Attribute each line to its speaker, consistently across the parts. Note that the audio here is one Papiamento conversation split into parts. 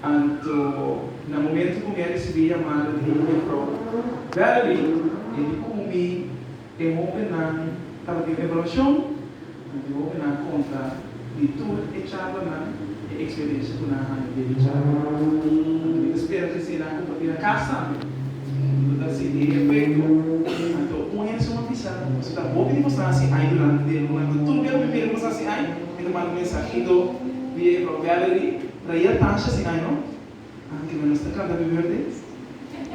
Speaker 1: Anto na momento cu mi a ricibi yamada di e Mevrou Valerie, e di cu mi e hopinan tabatin evaluacion, mi di hopinan conta di tur e chalanan e experiencia cu nan a haña den e charla. Anto mi ta spera cu esey nan a comparti na cas tambe. Mi lo ta haci di e efecto. Anto un hende su m'a bisa, Paso ta bo ki tin cos nan haci ay durante dia lunga. Anto tur bia cu mi mira cu nos haci ay, mi ta manda mensahido via Evrou Valerie. Lo yel Tasha si ai no. Ah ok nos ta canta primer vez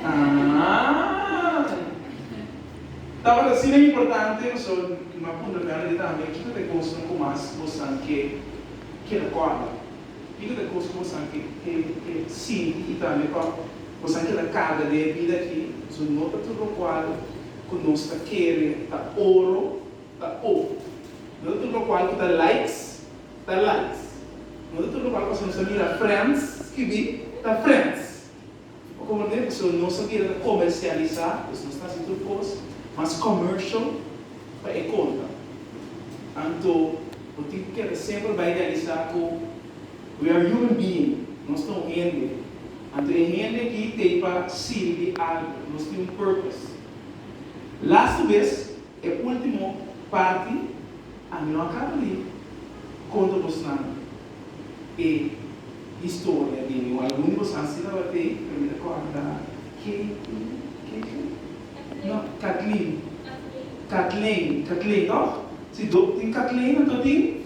Speaker 1: ah. Tabata asina importante paso no a puntra mi already tambe kiko ta e cosnan cu mas bo san ke keda corda? Kiko ta e cos cu bo san ke ke ke sinti y tambe pa bo san keda carga den e bida aki? Paso no ta tur locual cu nos ta kere ta oro ta po. No ta tur locual cu ta likes. ta likes. No ta tur loke pasobra nos a mira friends skibi ta friends. Oko bo mira pasobra nos a bira ta comercialisa, pues nos ta haci tur cos mas commercial pa e conta. Anto bo tin cu keda semper bay realiza cu we are human being, nos ta un hende. Anto e hende aki t'ey pa sirbi algo, nos tin un purpose. Laste bes, e ultimo parti. Ami no a caba di conta bos nan e historia di mi, o algun di bos haci tabatey, pero mi ta corda Katie, Kathleen? No, Kathleen, Kathleen, Kathleen, toch? Si dop tin Kathleen, anto tin.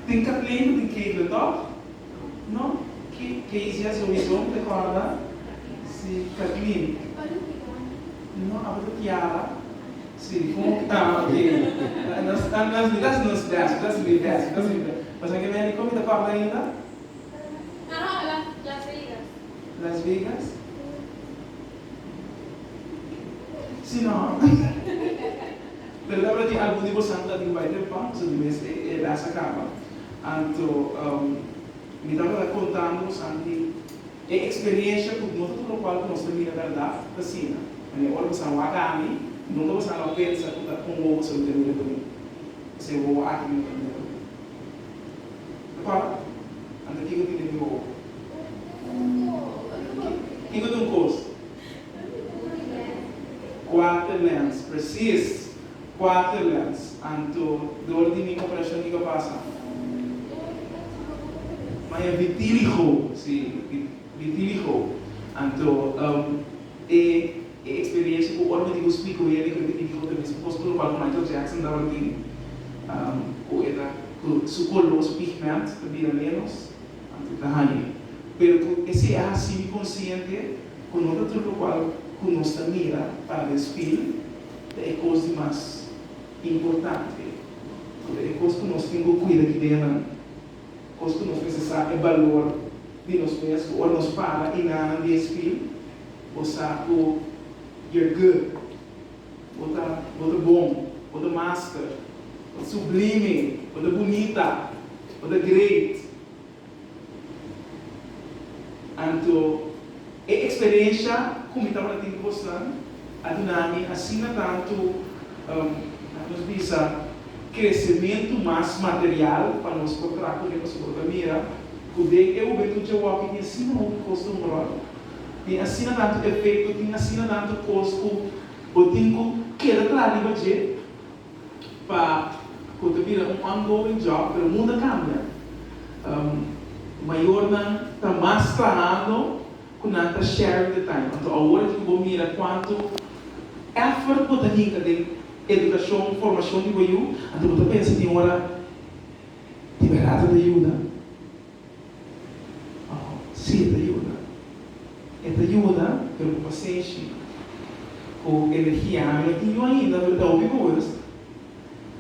Speaker 1: Tin ka pleno di kebra tòg? No, Casey a sou izon te kòrda si Kathleen. No, abo ta Tiara. Si, kon ku ta? Oke, nos ta nos di bèst, nos bèst, nos di bèst, nos di bèst. Pasobra ke meri kon mi ta kòrda ainda? Aha, Las Vegas. Las Vegas? Si, no. Lo tabata di algun di boso anto ta tin bai den pan, pasobra di mes e edas a caba. Anto mi tabata contando boso anto di e experiencia cu no ta tur locual cu nos ta mira berdad ta asina. Mane, ora boso a waga mi, nunca boso a lo pensa cu ta con wowo boso lo ta mira pa mi. Es e wowo aki cu no ta mira pa mi. Ta corda? Anto, kico tin den mi wowo? Kico ta un cos? Quarterlands, precies, Quarterlands, anto door di mi cooperacion di Gapasa. Maya Vitiligo, si, Vitiligo, anto e experiencia cu ora mi tin cu spik cu hende cu e tin Vitiligo ta mester cos por lo cual cu Michael Jackson tabata tin, cu e ta, cu su color, su pigment, ta bira menos. Anto ta haña. Pero cu esey a haci mi consciente cu no ta tur locual cu nos ta mira para den spil ta e cos di mas importante. Cu ta e cos cu nos tin cu cuida ki ideanan. Cos cu nos mester sa e balor di nos mes cu ora nos para y nananan di e spil, bo sa cu you're good. Bo ta, bo ta bon, bo ta master, bo ta sublime, bo ta bunita, bo ta great. Anto e experiencia cu mi tabata tin cu bosnan a duna mi asina tanto, um, laga nos bisa, crecemento mas material pa nos por traha cu mi, pasobra bo ta mira cu den e hubentud dje wak y tin asina hopi cos ta un rol. tin asina tantu efekto, tin asina tantu kos ku bo tin ku keda kla riba dje pa ku ta bira un ongoing job. Pero mundu a kambia. Mayornan ta mas trahando ku nan ta sharing the time. Anto awor aki ku bo mira kuantu effort bo ta hinka den edukashon, formashon di bo yu, anto bo ta pensa tin ora di berdad ata yuda? Oh, sí, e ta yuda. E ta yuda, pero cu pasenshi, cu energia. Ami y yu ainda lo ta obi guras.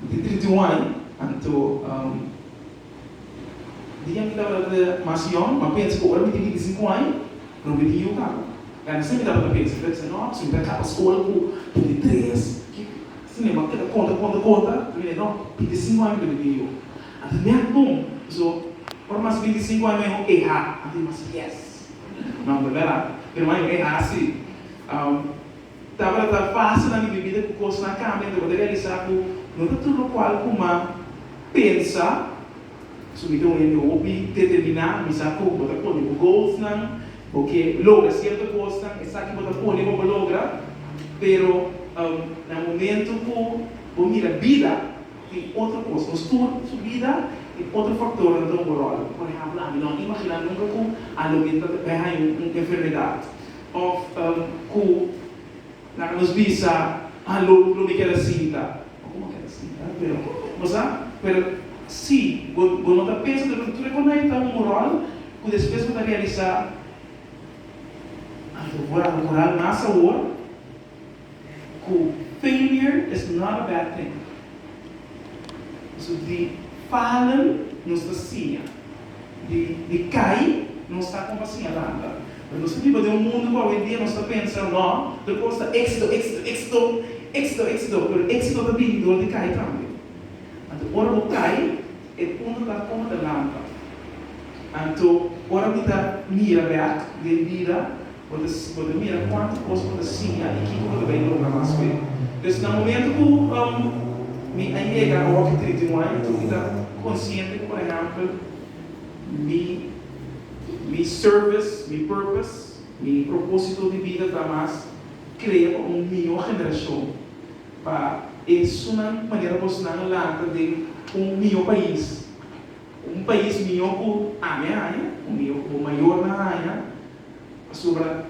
Speaker 1: Mi tin trinta y un aña, anto, um, dije mi tabata ta mas yong, ma pensa cu ora mi tin binti sinku aña, lo mi tin yu caba. Gana esei mi tabata pensa. Mi ta bisa, no, si mi ta caba scola cu binti tres, ki, si mi a keda conta, conta, conta, mi di, no, binti sinku aña mi ta binti yu. A tin mia tun, so ora mas binti i sinku aña ho eha, a tin mas fies. No verdad? Pero ma yo eha asi. Tabata fase na mi bibida ku kosnan a kambia, mi tabata realisa ku no ta tur lokual ku ma pensa. So mi ta un hende hopi determiná, mi sa ku bo ta pone bo goalsnan, bo ke logra sierto kosnan, esaki bo ta pone pa bo logra. Pero na momentu ku bo mira bida. Tin otro cos, nos tur su bida tin otro factornan ta hoga rol. Por ehempel, ami no a imagina nunca cu a loke ta ta beha in un enfermedad of cu nan a nos bisa, ah lo lo mi keda sinta, bo no keda sinta pero bo sa, pero si bo bo no ta pensa tur tur e cos na e ta hoga rol cu despues bo ta realisa, ah lo bo a cural mas awor cu failure is not a bad thing. Pasobra di falen nos ta siña, di cay nos ta como pa siña lanta. Pero nos ta biba den un mundo cu awendia nos ta pensa, no, tur cos ta exito, exito, exito, exito, exito, pero exito ta bini dor di cay tambe. Anto ora bo cay, E punto ta como ta lampa. Anto ora mi ta mira bek den bida, bo ta bo ta mira cuanto cos bo ta siña y kico bo ta bay logra mas cu e. Pues na momento cu um mi a yega a hopi trinta y un aña tur mi ta consciente cu por ehempel mi mi service, mi purpose, mi proposito di bida ta mas crea pa un mijo generacion. pa esunnan ku manera bosnan a lanta den un mihó pais, un pais mihó ku ami a haña o mihó ku bo mayornan a haña. Pasobra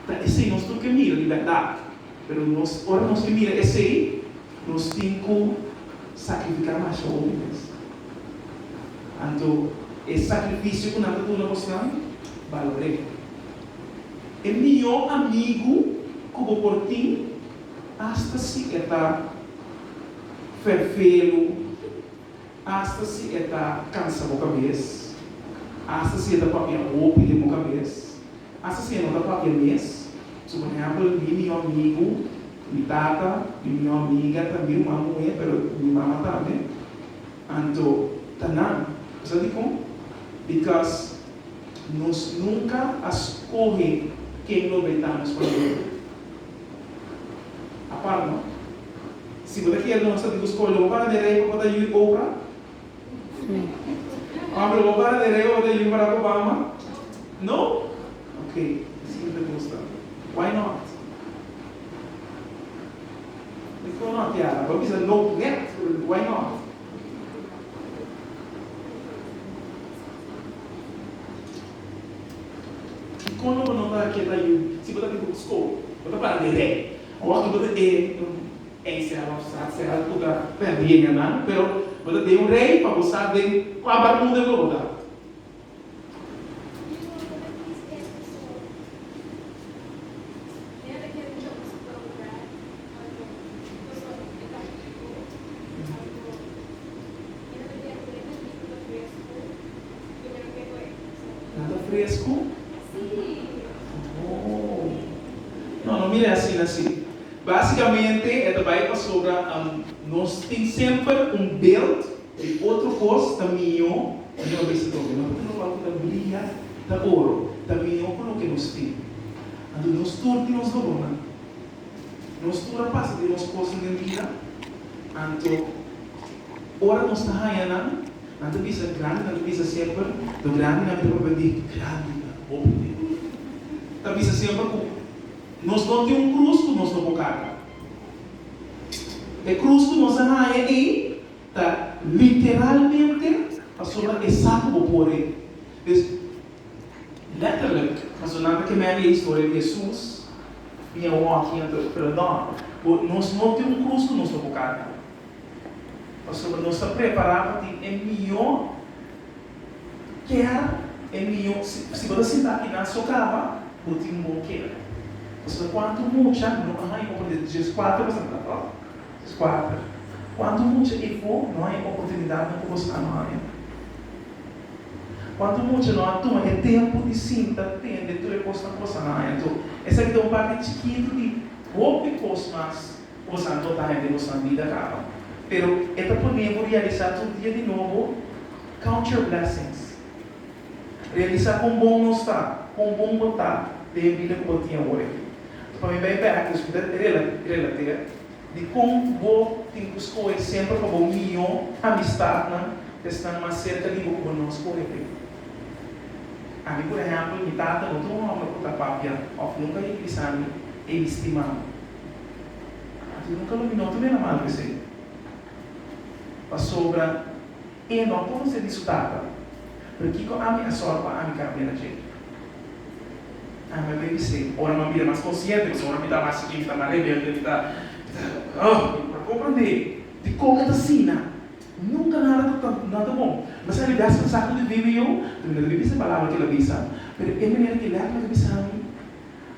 Speaker 1: ta esei nos tur ke mira di bèrdat. Pero nos, ora nos ke mira esei, nos tin ku sakrifiká masha hopi mes. Anto e sakrifisio ku nan ta duna bosnan, balor'é. E mihó amigu ku bo por tin. Asta si e ta ferfelu, asta si e ta kansa bo kabes, asta si e ta papia hopi den bo kabes, asta si e no ta papia mes. So por ehèmpel, mi mihó amigu, mi tata, mi mihó amiga ta mi ruman muhé, pero mi mama tambe. Anto ta nan. Bo sa dikon? Bikos nos nunka a skohe ken lo bai ta nos pareha. Apart no. Si bo ta kier nos ta di bo skola, bo para den rei pa bo ta yu Oprah? Pablo, bo para den rei pa bo ta yu Barack Obama? No? Ok, e si no ta gusta. Why not? Befo not ya, bo a bisa no net, pero why not? Dikon lo bo no ta keba yu si bo ta tin buk skol? Bo ta para dirèk. Awor aki bo ta den un encel òf sa sera ku ta pèrdí lenganan, pero bo ta den un rei pa bo sa den kua barmuda ku bo ta. No ta fresco? Oh. No, no mira e asina si. Basicamente e ta bay pasobra nos tin semper un beeld di otro cos ta miho di nos visitó. Nos ta tin locual cu ta bria, ta oro, ta miho cu loke nos tin. Anto nos tur tin nos lobonan. Nos tur a pasa di nos cosnan den bida, anto ora nos ta haya nan Nan ta bisa grandi, nan ta bisa semper ta grandi, nan ta papia di grandi na hopi tempu. Ta bisa semper ku nos no tin un krus ku nos no por karga. E krus ku nos a haña ei ta literalmente pasobra esaki ku bo por ei. Des, letterlijk, paso nan ta ke meri e historia di Hesus, mi a wòki, mi a ta perdòn bo, nos no tin un krus ku nos no por karga. Pasobra nos ta prepará pa tin e mihó kèr, e mihó. Si, si bo ta sintá aki na so kama, bo tin bon kèr. Pasobra kuantu mucha no a haña oportunidad, Dios kuater bo sa ta, to? Dios kuater. Kuantu mucha i bo no a haña oportunidatnan ku boso a no haña? Kuantu mucha no a tuma e tempu di sinta tende tur e kosnan ku boso a no haña? Enton, esaki ta un parti chikitu di hopi kos mas. Bo sa anto ta hende ku san bida kaba, pero e ta pone bo realisá tur dia di nobo count your blessings. Realisá kon bon nos ta, kon bon bo ta den e bida ku bo tin awor aki. Pa mi bai bek i escuta relater di kon bo tin ku skohe semper pa bo mihó amistatnan pa esnan mas serka di bo ku bo no skohe pa e. Ami por ehèmpel mi tata no ta un hòmber ku ta papia òf nunka hiplisami ei mi stimami. Anto nunka lo miró tambe na mal di esei. Pasobra e no por fase di su tata. Pero kiko ami a sòru pa ami kambia na dje? Ami a debe ser, ora mi a bira mas konsiente, pasobra ora mi ta mas chiquin, mi ta mas rebelde, mi ta, mi ta, oh, mi por a komprendé di kon e ta asina. Nunka nada ta ta nada ta bon. Mi sa di bèsta esaki lo ta debe yo, pero mi no debe bisa e palabra ki el a bisa. Pero e manera ki el a habla ta bisa mi.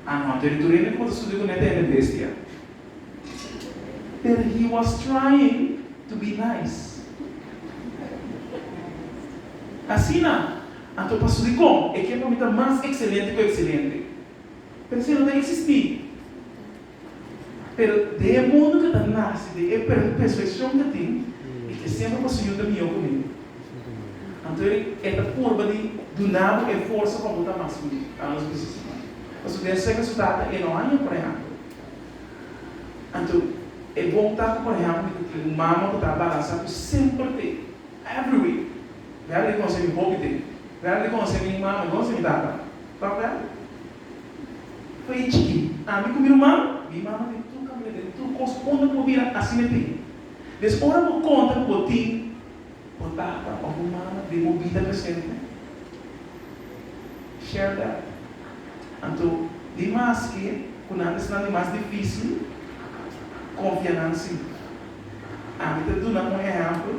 Speaker 1: Anot e ritorina komo ta sudi ku Neta Ene Bestia, Pero he was trying to be nice. Asina, anto pa sudi kon e ke pa mi ta mas ekselente ku ekselente. Pero si e no ta eksistí. Pero den e mundu ku ta nase den e perfekshon ku tin, i ke semper ku Señor ta mihó ku mi. Anto e ta purba di duna bo e forsa pa bo ta mas ku mi, ta nos bisnis siman. Pasobra den aserka su tata e no haña, por ehèmpel. Anto e bon ta ku, por ehèmpel, mi ta tin un mama ku ta balansá ku semper te every week. Mi a rikonosé mi hopi den. Mi a rikonosé mi mama i konosé mi tata. Tòg, Bel? Fai e chiki, ami ku mi ruman, mi mama den tur kamina, den tur kos unda bo bira, asi mi tin. Mes ora bo konta ku bo tin bo tata òf bo mama den bo bida presente? Share that. Anto, di maske ku nan ta esnan di mas difísil, konfia nan sí. Ami ta duna un ehèmpel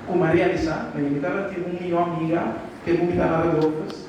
Speaker 1: ku mi a realisá, mi tabata tin un mihó amiga, ke ku mi ta Aradofes.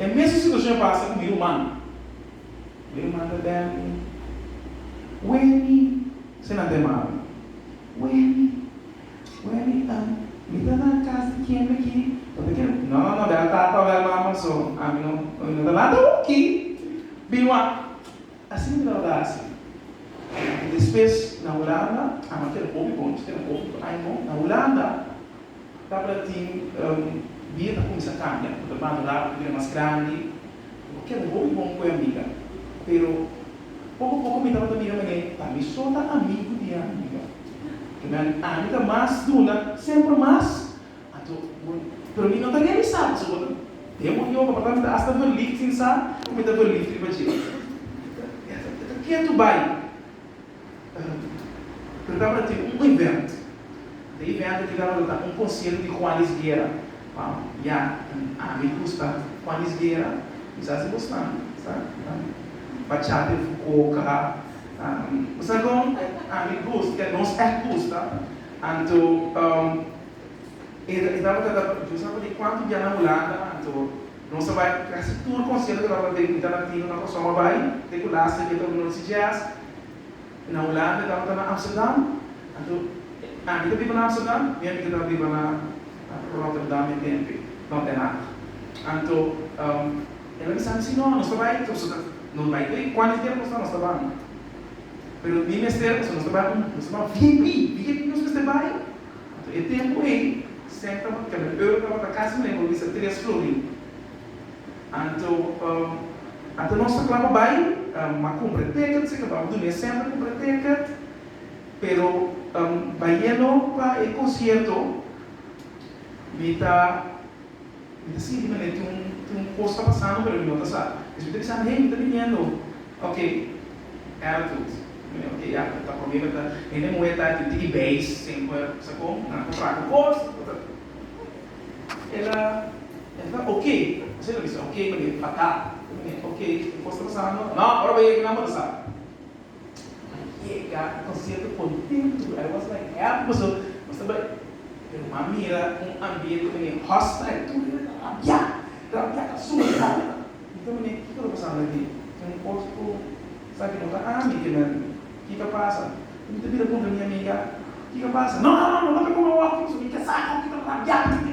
Speaker 1: E mesun situashon a pasa ku mi ruman. Mi ruman ta bel mi, Wendy, esei nan ta yama mi, Wendy, Wendy, ah, mi ta na kas di ken aki? Bo ta kere, no, no, no, bel tata o bel mama so, ami no, ami no ta na ta hoki. Bin wak, asina mi tabata hasi. Despues na Hulanda, ami a keda hopi bon, mi keda hopi ku Aimon na Hulanda. Tabatin dia ta cuminsa cambia, cu ta madura, cu ta bira mas grandi, cu ta keda hopi bon cu e amiga. Pero poco poco mi tabata mira manera ta mi so ta amigo di e amiga. Kimen ami ta mas duna semper mas, anto bo, pero mi no ta realisa pasobra bo ta den bo yoga, papia mi ta hasta verlift sin sa cu mi ta verlift riba dje. E ta ketu bay. Pero tabata tin un event. E event aki tabata ta un concierto di Juan Luis Guerra. Wou, ya, ami cu sta Juan Luis Guerra, mi sa si bo sta, sta, ta bachata e fucoca, ta, bo sa con ami gust, ke nos echt gusta. Anto, e tabata ta, yo sa por di cuanto biaha na Hulanda, anto. Nos a bai ku kasi tur konsierto nan pa den Ita Latino na Kòrsou. A bai te ku last week tabata Noordse Jazz na Hulanda, e tabata na Amsterdam. Anto Andy ta biba na Amsterdam, mi amiga ta biba na Rotterdam e tempe, no Den Haag. Anto el a bisa mi si no, nos ta bai, nos ta nos bai ku e kuantu di tempu ku nos ta nos ta ban. Pero mi mester, pasobra nos ta ban nos ta ban vip, wiki nos mester bai? Pa e tempu ei, Stef tabata keda na Europa, pa ta kasa na e hoi bisa tres florin. Anto, anto nos ta kla pa bai, m'a kumpra e ticket, si ta ba'o dune e sènt a kumpra e ticket, pero bayendo pa e konsierto mi ta. Mi ta sinti manera tin un tin un cos ta pasando pero mi no ta sa. Despues mi ta bisa hey mi ta biniendo ok era tut mi ok ya ta ta prome beta hende muhe ta aki tiki beis semper sa con nan ta traha cos nan ta el a el ta ok asina el a bisa ok manera fatal mi ok tin cos ta pasando no ora bay aki nan bo ta sa. Mari yega un concierto contentu, I was like happy paso nos ta bai, pero m'a mira un ambiente menen hostile, tur hende ta rabia, rabia ta suma di rabia, mi ta mira kiko ta pasando aki, tin un cos cu sa que no ta ami que nan kika pasa, y mi ta bira puntra mi amiga kika pasa, no no no no ta come walking paso mi ke sa kiko ta rabia aki.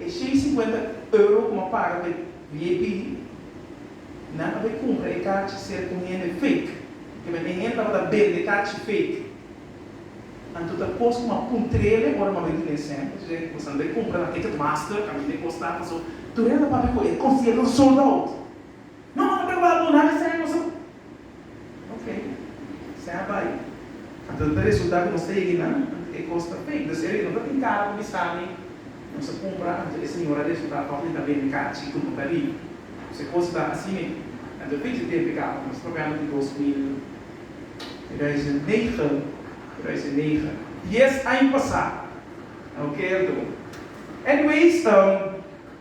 Speaker 1: E sien i sinkuenta euro ku bo paga pa e vip, nan a bai kumpra e kachi ser ku un hende fake. Kibera e hende tabata bende kachi fake. Anto ta kos ku m'a puntrele ora m'a bai di Nesem. Esei ke bo san bai kumpra na Ticketmaster, ka mira e kos ta. Paso tur hende a papia ku e kos di e lo sold out. No, no ta wak duna esei a nos amo. Ok, esei a bai. Anto ta resulta ku nos ta hegi nan anto e kos ta pei. Entonces ebe no ta tin kara pa bisa mi nos a kumpra anto e señora a resulta tòg di ta bende kara chitu no ta riba. Pues e kos ta asi me. Anto pichi tempu e kaba. Nos ta papia anto di dos mil, tweeduizend negen, tweeduizend negen. Dies aña pasa. Ok, a duna. Anyways, um.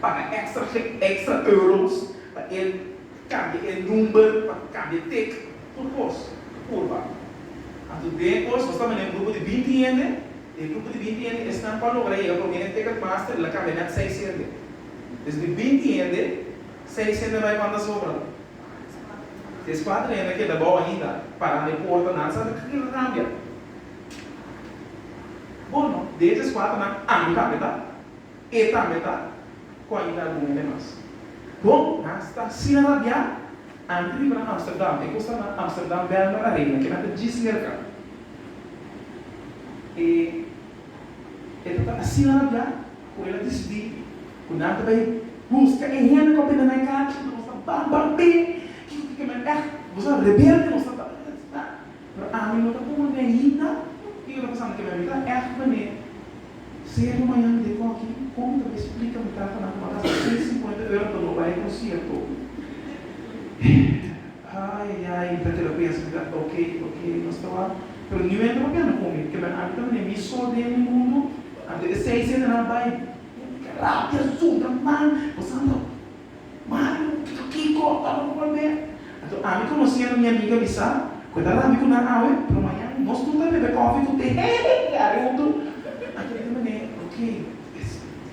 Speaker 1: paga extra gen extra euros pa e cambia e number pa cambia tic tur cos purba anto den cos nos ta manda un grupo di binti hende e grupo di binti hende esnan pa logra yega prome e ticket master el a cambia net seis hende des di binti hende seis hende bay cuanta sobra des cuatro hende a keda bou ainda parando e porta nan sa kin lo cambia bono de e des cuatro nan ami cambia ta. E tambe ta cu a yira algun hende mas. Bon, nan sta asina rabiá. Antes riba na Amsterdam, e cosnan na Amsterdam, Bijlmer a regla, kinan ta djis merca. E e ta ta asina rabiá cu el a dicidi cu nan ta bay busca e hende cu a benda nan e casa, nos ta bam bam bee, kiko kiko, men echt, nos ta rebelde, nos ta ta ta ta ta. Pero ami no ta con un neita y yo ta pasando que mi ami ta echt mane serio mañan mi de cogi con mi ta bay splica mi tata nan coma gasta ciento cincuenta euro pa no bay concierto ayayay mi ta keda pensa mi ta ok ok nos ta wak pero niu enta pa pena con mi ke mi ami ta mane mi so den mi mundo anto e seis siete nan bay mi ta rabia zunda man bosa anto. Mario, Tutu kiko a tabata ku Albert? Anto ami konosendo mi amiga bisa ku e ta rami ku nan awe, pero mañan nos tur ta bebe kofi ku te hehehe a riuntu. Anto mi di manera, ok, es verdad.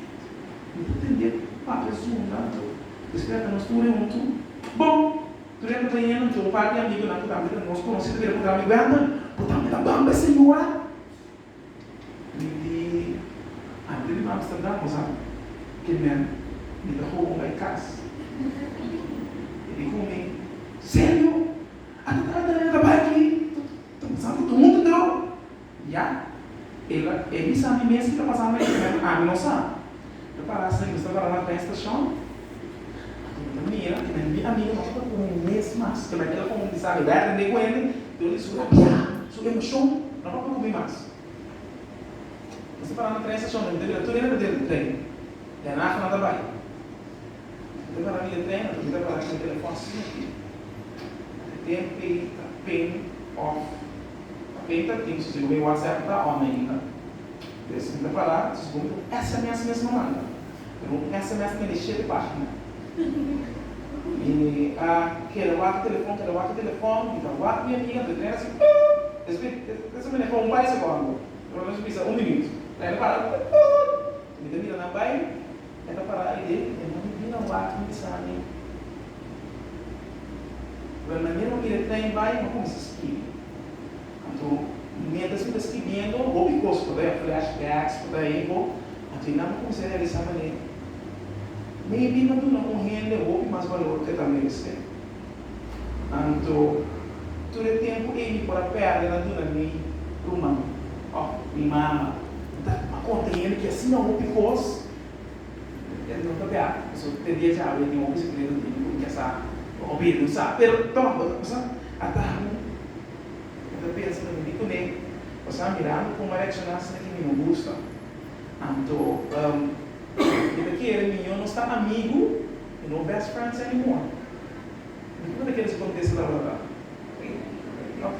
Speaker 1: Mi ta tende papia e zunda anto despues anda nos tur riuntu. Bon, tur hende ta yendo anto un par di amigunan ku tambe ta nos konosendo bira ku rami, Wendel, bo tambe ta bamba e señora? Mi di antes di nan Amsterdam nos a kemen mi ta hoga un bay cas. E di cu mi, Serio? Ata ta antes nan a bay aki? Ta pasando tur huntu drogo? Ya, e bisa mi mes cu ta pasando e kemen, ami no sa. Lo para asina, nos ta para na tren stashon, anto mi ta mira e nan di amigo nos ta un mes mas, kema e telefon di Sally bèta den e kuende, lo di su rabiá, su emoshon, no papia ku mi mas. Nos ta para na tren stashon, mi ta mira tur hende ta dentro tren, ya Rafa no ta bai. Mi ta para riba tren, mi ta para mi telefon asina aki, e tempe ta ping off, ta ping ta ting, su sigur mi whatsapp ta on ainda. Pero si ta pará, sus bo un sms mesmo manda. Pero un sms ta mende shete página. Mi a keda wak telefòn, keda wak e telefòn, mi ta wak mi amiga, mi ta trena si, Uuuutt! Despues ta sa maneha pa un par di sekondo, pero nos a bisa un minüt. Lain a para, Uuuutt! Mi ta mira nan bai. E ta para aide, e mami bira wak mi esami. Pero na mira mira e trein bai, mi a cuminsa skibi. Anto, mientras mi ta skibiendo, hopi cos por bay, flashbacks por bay ahi bo, anto e nan a cuminsa realiza manera, maybe mi a duna un hende hopi mas valor cu e ta merece. Anto, tur e tempu ei mi por a pèrdè na duna mi ruman òf mi mama. Mi ta a konta hende ki asina hopi kos. El no ta bèk, pasobra te dia djawe e tin hopi sekreto na mente, ku mi ta sa, òf e no sa. Pero tòg bo ta pasá atahun. Mi ta pensa ta bini kuné, pasá mirando kuma reakshoná asina ki mi no gusta. Anto. Mi ta kere mi y yo nos ta amigu, pero no best friends anymore. Mi kiko mi ta kere su kontesta ta wòrdu aki? Ok.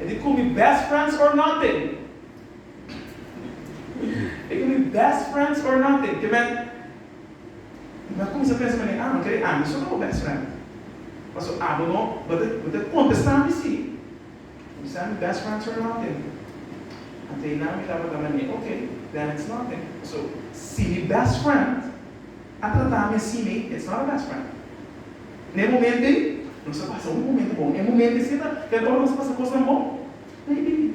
Speaker 1: E di ku mi best friends or nothing. E ku mi best friends or nothing. Ke men, mi a kuminsá pensa manera, ah, mi kere ami so ta bo best friend. Paso abo no, bo ta kontestá mi sí. San best friends for nothing. Anto e nan mira pa dame mi, ok, then it's nothing. So, si mi best friend a trata mi así mi, it's not a best friend. Na e momento ei, nos a pasa un momento bon. E momento esei ta den ora nos a pasa cosnan bon? Maybe.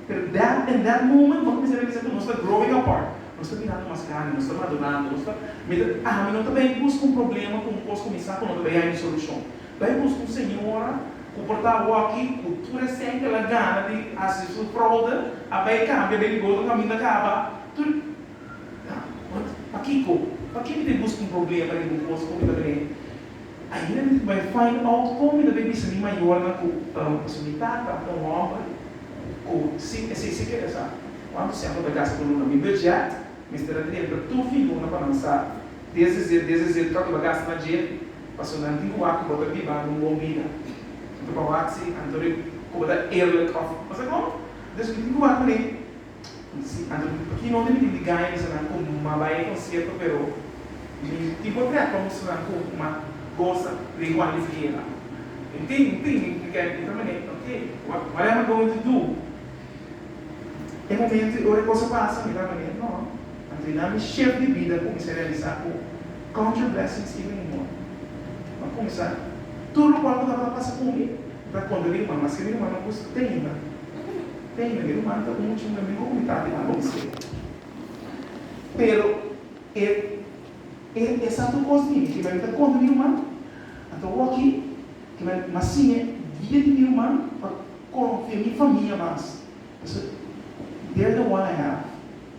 Speaker 1: Pero that, in that moment, bo ta bisa realiza cu nos ta growing apart. Nos ta mirando mas grandi, nos ta madurando, nos ta, mi ta, ami no ta bay bus cu un problema, cu un cos cu mi sa cu no ta bay hay un solucion. Bay bus un señora cu por ta awaki cu tur esén cu el a gana di haci su fraude a bay cambia den goto caminda caba tur ha want pakico paki mi ta busca un problema den bo cos comi ta bene ainda mi ta bay find out comi ta bay bisa mi mayornan cu um pasobra mi tata ta un hombre cu si esey si kere sa cuanto semper ta gasta por lo nan mi budget mester a dentro tur figura pa nan sa. Desde cedo, desde cedo ta lo gasta na jail, paso nan tin cu wak bo ta biba un bon bida. Anto pa wak si, anto ri cu bo ta eerlijk of pasacoa? Entonces mi tin cu wak cun'e? Si, anto ri paki no tin bitin di gaña di esnan cu ma bay e concierto pero mi tin por crea conversacion nan cu ma goza den Juan Luis Guerra. Mi tin, mi tin, mi keda kibra manera, ok, what am I going to do? E momento i ora e cosa pasa mi ta manera no, a trina mi shef di bida cuminsa realisa cu count your blessings even in more. Bo a cuminsa tur locual cu tabata pasa cu mi mi ta conta di ruman, maske mi ruman no custa teinda, teinda mi ruman ta un mucho mi miho cu mi tata i mami di ser. Pero e e esatu cos di mi kiba mi ta conta di ruman a ta wokki. I na na sime dia di mi ruman pa konfia mi famia mas. Pasobra they're the one I have.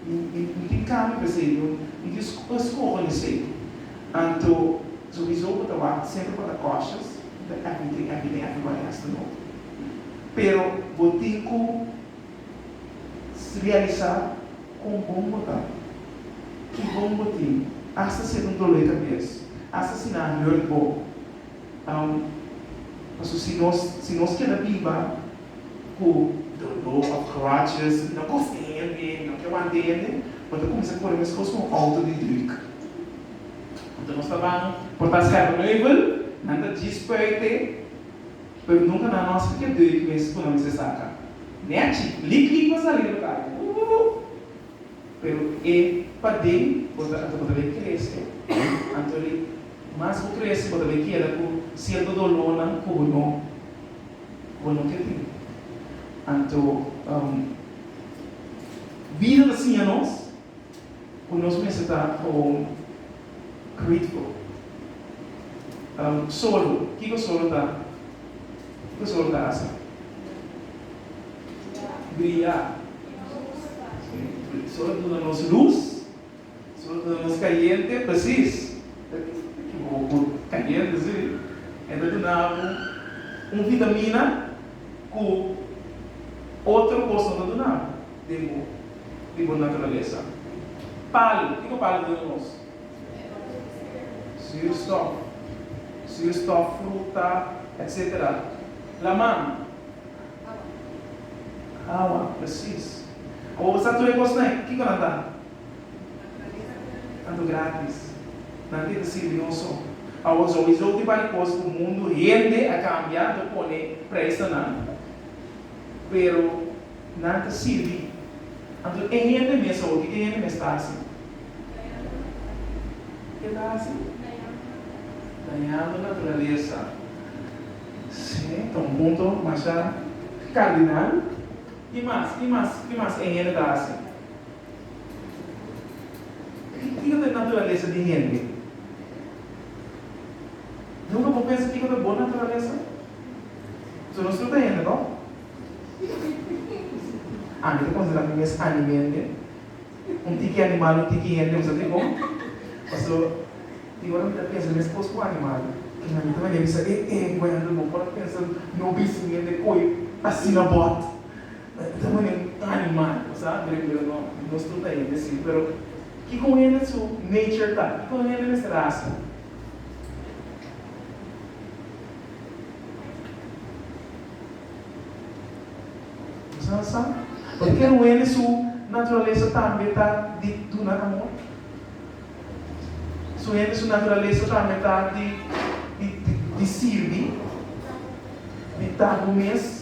Speaker 1: Mi mi no tin kami pa esei, no no tin sko pa skoho na esei. Anto sogisou bo ta wak semper pa ta kòshus, the everything everything everybody has to know. Pero bo tin ku realisa kon bon bo ta, ki bon bo tin, asta si e ta un dolé kabes, asta si nan a hurt bo, Paso si nos si nos keda biba ku doló of grudges i no gosta di hende i no ke wanta hende bo ta kuminsá kore meskos ku un outo di druk. Anto nos ta ban por ta scherpe meubel, nan ta djis spuite, pero nunka nan no a spike druk mes ku nan mester saka. Nèchi, lik lik bo a sali riba tabel, woo! Pero e paden bo ta anto bo ta lei krese, anto ri Mas otro bes bo ta bay keda cu cierto dolornan cu bo no bo no ke tin. Anto, bida ta siña nos cu nos mester ta gewoon critico. Solo, kico solo ta? Kico solo ta haci? Bria. Solo ta duna nos luz. So ta mas caliente precies. Book caliente si e ta duna bo un vitamina cu otro cos no ta duna bo den bo di bo naturalesa. Palo, kico palo ta duna nos? Zuurstof, zuurstof, fruta etc. Laman? Awa, precies. Awa bo sa tur e cosnan kico nan ta? Tanto gratis. Nan tin ta sirbi nos so. Awor so e zote bal kos ku mundu hende a kambia anto pone preis na nan. Pero nan ta sirbi. Anto e hende mes awor kiko e hende mes ta hasi? Ke ta hasi? Dañando naturalesa. Si, ta un punto masha kardinal. Ki mas? Ki mas? Ki mas e hende ta hasi? Kiko ta e naturalesa di hende? Nunka bo pensa kiko ta bo naturalesa? So nos tur ta hende to? Ami ta konsidera mi mes animende, un tiki animal un tiki hende bo sa dikon? Paso tin ora mi ta pensa mes kos ku animal. Tin ami ta mania bisa, e e Wendel bo por a pensa no bisa un hende ku e asina bot. Ta manera cu ta animal, bo sa? Bo riba lo no, nos tur ta hende así. Pero kico un hende su nature ta? Kico un hende mester haci? Bo sa sa? Bo ta kere un hende su naturalesa tambe ta di duna amor? Su hende su naturalesa tambe ta di sirbi, di ta bo mes?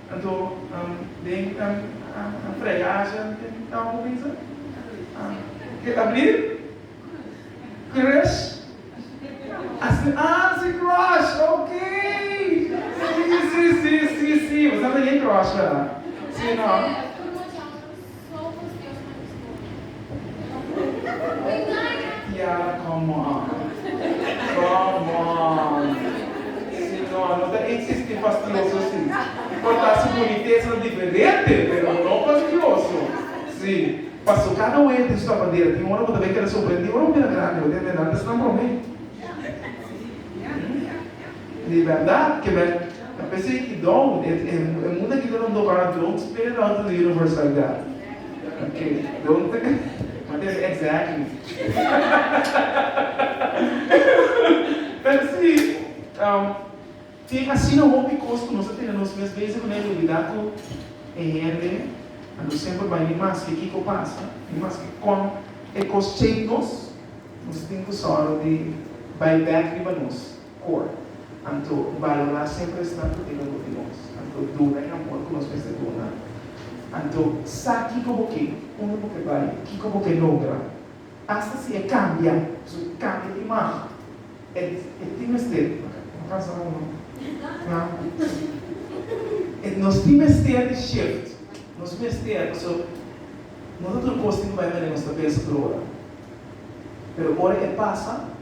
Speaker 1: Anto den ta fregacia den campo pensa ke ta blir crush asi ah si crush ok si si si si si bo sa ta ye crush verda si no. Salmos Dios na mi storia. Tiara come on come on Señor no ta existi fastioso si y por ta su bonitesa ta diferente pero no fastioso si paso cada un hende su ta bandera tin ora bo ta bay keda sorprendi ora bo mira grandi bo ta hende nan ta snap prome. Di bèrdat ke men ta persegí Don, e munda aquí ta rondó para Don spera Don ta lira for saldad. Ok, Don ta mantense exactly. Pero sí, tin asina hopi cos cu nos ta tene nos mes bezig cu nan y olbida cu e hende a nos semper bai ni maske kico pasa, ni maske con e cos check nos, nos tin cu sòru di bai back riba nos. Kor. Anto, balorá semper e staf ku tin ombro di nos. Anto, duna e amor ku nos mester duna. Anto, sa kiko bo ke, unda bo ke bai, kiko bo ke logra. Asta si e kambia su kambia di imag, e e tin mester, no kansa no no, na, e nos tin mester di shift. Nos mester, paso no ta tur kos tin bai manera nos ta pensa tur ora. Pero ora e pasa.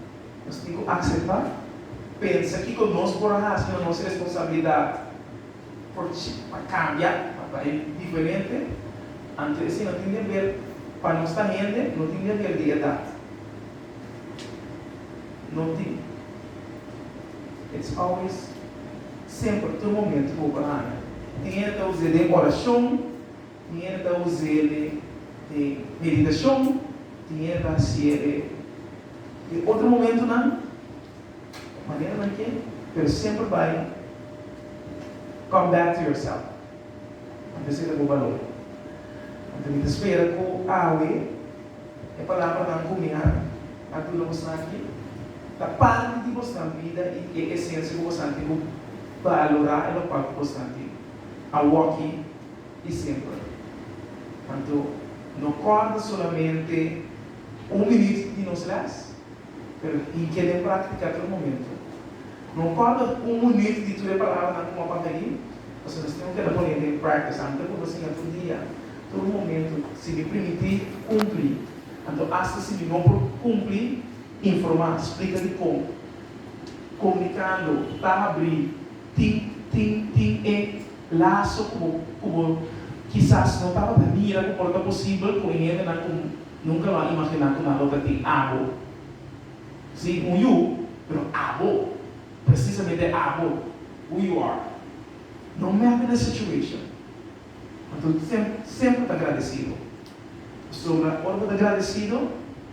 Speaker 1: Nos tin ku akseptá, pensa kiko nos por a hasi na nos responsabilidat for pa kambia, pa ta diferente. Anto esei no tin deber, pa nos ta hende no tin deber di edat. No tin. It's always, semper, tur momento, bo por a haña. Tin hende ta usa e den orashon. Tiener ta un serie de meditacion, tiener ta un serie de otro momentonan, of manera nan ke, pero semper bai come back to yourself, nan ta seta bo balor. Anto mi ta spera ku awe e palabranan ku mi a a duna boso aki ta parti di bosnan bida i di e esensia ku boso a tin ku balora e lokual ku boso a tin awoki. y simple. Anto no corda solamente un minuut di nos les, pero tin ke den practica tur momento. No corda un minuut di tur e palabranan cu bo a papia ahi, pasobra nos tin keda pone den practice. Anto cu bo siña tur dia, tur momento, si mi primiti cumpli, anto hasta si mi no por cumpli, informa, splica dicon, comunicando, ta habri, tin, tin, tin e. Laso ku bo ku bo kisas no tabata mira ku por ta posibel ku un hendenan ku nunka lo a imaginá ku nan lo ta tin abo. Sí, un yu, pero abo, presisamente abo, who you are. No matter the situation, anto tem semper ta gradesido. Pasobra ora bo ta gradesido.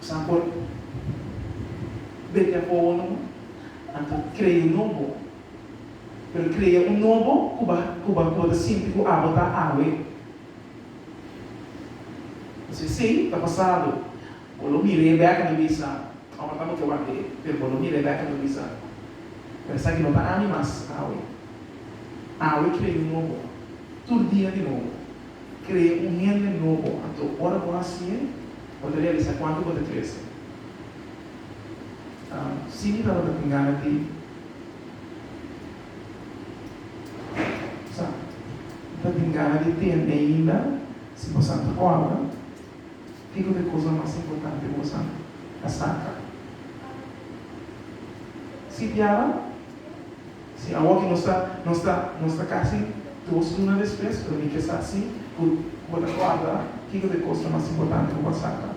Speaker 1: Sa por beke apowo nobo, anto krea nobo. Pero krea un nobo ku ba ku ba ku bo ta sinti ku abo ta awe. Si así ta pasado, bo lo mira i e bèk a lo bisa, Ora ta bo ke wak dje, pero bo lo mira e bèk a lo bisa, Pero esaki no ta ami mas awe. Awe krea un nobo, tur dia di nobo. Kree un hende nobo anto ora bo hasi'e bo ta realisa kuantu bo ta krese. Simi tabata tin gana di sa, bo ta tin gana di tende ainda si bo sa ta ora kiko ta e kos mas importante ku boso a saka. Sipiaba. Si awa ki nos ta nos ta nos ta kasi dos luna despues, pero mi ke sa si ku bo ta guarda kiko ta e kosnan mas importante ku bo a saka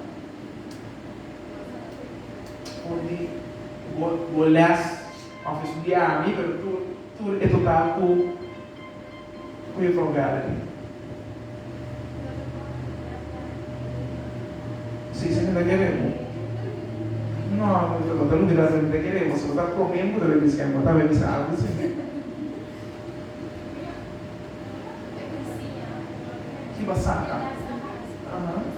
Speaker 1: for di bo bo lès òf estudiá ami, pero tur tur e total ku. Goeie pa Uganda di. Si esaki ta kere bo. No no ta lubida esaki ta kere bo si bo ta come bo ta ben bisa bo ta ben bisa algo si. Kiba saca. Aha.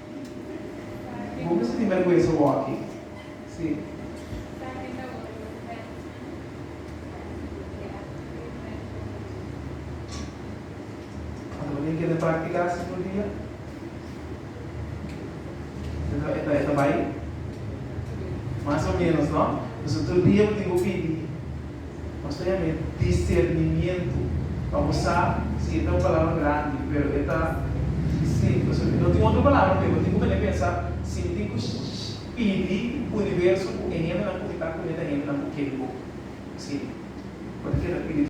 Speaker 1: Bo mester tin bergwensa bo aki. Ata bo tin kende praktika asi tur dia? E ta bai mas o menos no? Pasobra tur dia bo tin ku pidi. Nos ta yama e discernimiento pa bo sa si e ta un palabra grandi pero e ta dificil pasobra no tin otro palabra pa e. Bo tin ku mene pensa si mi tin ku pidi universo ku e hendenan ku mi ta ku e ta hendenan ku keri bo si bo ta keda pidi.